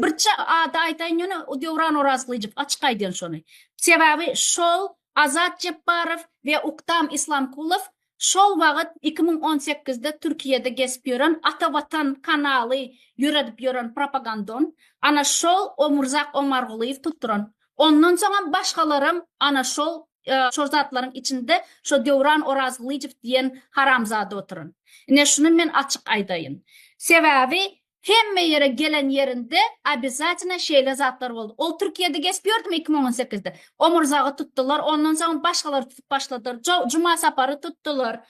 Birçe ady aytaýyn ýöne Döwran Orazgylyjow açyk aýdýan şony. Sebäbi şol Azat Jepbarow we Uktam Islamkulow şol wagyt iki müň on sekizde Türkiýede gezip ýören Ata Watan kanaly ýöredip ýören propagandon ana şol Omurzak Omargulyýew tutduran. Ondan soňam başgalaram ana şol şol zatlaryň içinde şo Döwran Orazgylyjow diýen haramzada oturan. Ine şuny men açyk aýdaýyn. Sebäbi Hemme ýere gelen ýerinde obýazatynda şeýle zatlar boldy. Ol Türkiýede geçip ýördümi iki müň on sekizde? Omurzagy tutdular, ondan soň başgalary tutup başladylar. Jow, Juma Sapary tutdular.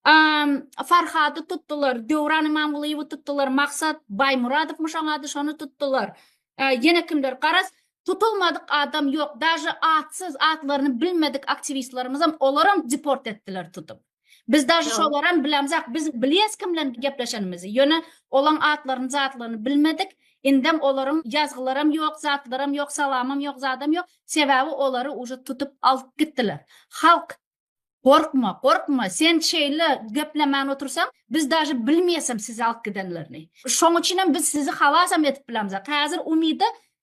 Amm, Farhady tutdular, Döwran Imamgulyýewi tutdular, Maksat Baýmuradowmyşoň ady, şony tutdular. Äý, ýene kimler? Garaz, tutulmadyk adam ýok. Daže atsyz, atlaryny bilmedik aktiwistlerimizem, olaram deport etdiler tutup. Biz daşy şolaram bilemzak. Biz bilýäs kim bilen gepleşenimizi. Ýöne olaň atlaryny, zatlaryny bilmedik. Indem olaryň ýazgylaram ýok, zatlaram ýok, salamam ýok, zadam ýok. Sebäbi olary uje tutup alyp gitdiler. Halk Gorkma, gorkma, sen şeýle geplemän otursaň, biz daşy bilmeýäsem sizi alyp gidenlerini. Şoň üçinem biz sizi halasam edip bilemzak. Häzir Umyda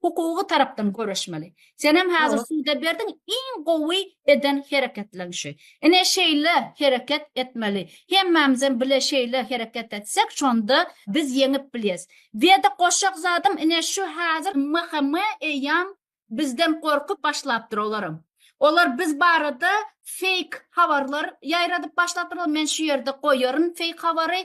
Hukugy tarapdan göreşmeli. Senem hazir suda berdiň iň gowy eden hereketleň şu. Ine şeýle hereket etmeli. Hemmämizem bile şeýle hereket etsek şonda biz ýeňip bilýäs. Weda goşjak zadym ine şu hazir MHM eýýam bizden gorkup başlapdyr olaram. Olar biz barada feýk habarlar ýaýradyp başlapdyrlar men şu ýerde goýaryn feýk habary.